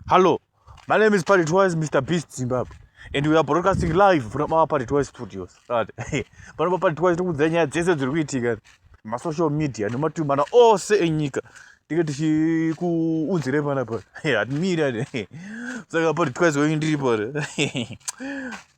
Hello, my name is Party Twice, Mr. Beast Zimbabwe. and we are broadcasting live from our party twice studios right panopa party twice tikuudza nyaya dzese dziri kuitika masocial media nematumana ose enyika tinge tichikuunzirei panapa hatimiri saka party twice wenyu ndiri pano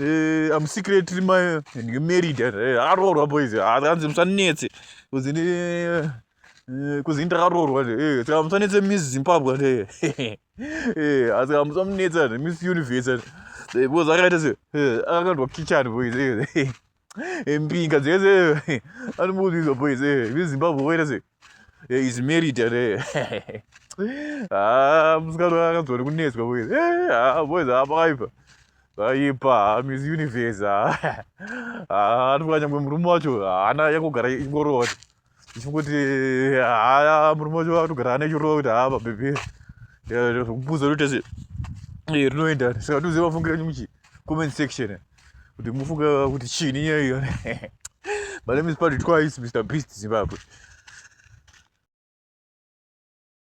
Eh, I'm secretly my married. Arorwa boys. Akanzi musanetse. Kuzini eh, kuzini takarorwa nje. Eh, saka musanetse Miss Zimbabwe nje. Eh, asi musanetse Miss Universe. Eh, boys akaita se. Eh, akandwa kitchen boys. Eh. Mpinga dzese anomuudizwa boys eh veZimbabwe whereas eh is married ere. Ah musikana akanzwa nekunetswa boys. Eh ah boys apaipa. Aipa Miss Universe. Ah anofanya nyangwe murume wacho haana yakugara ingoroti. kuti haya murume wacho vakutogara ane chirova kuti haa babebe zvekupuza kuti tese rinoenda saka toziva mafungiro enyu muchi comment section kuti mufunga kuti chini nyaya iyo my name is paddy twice mr beast zimbabwe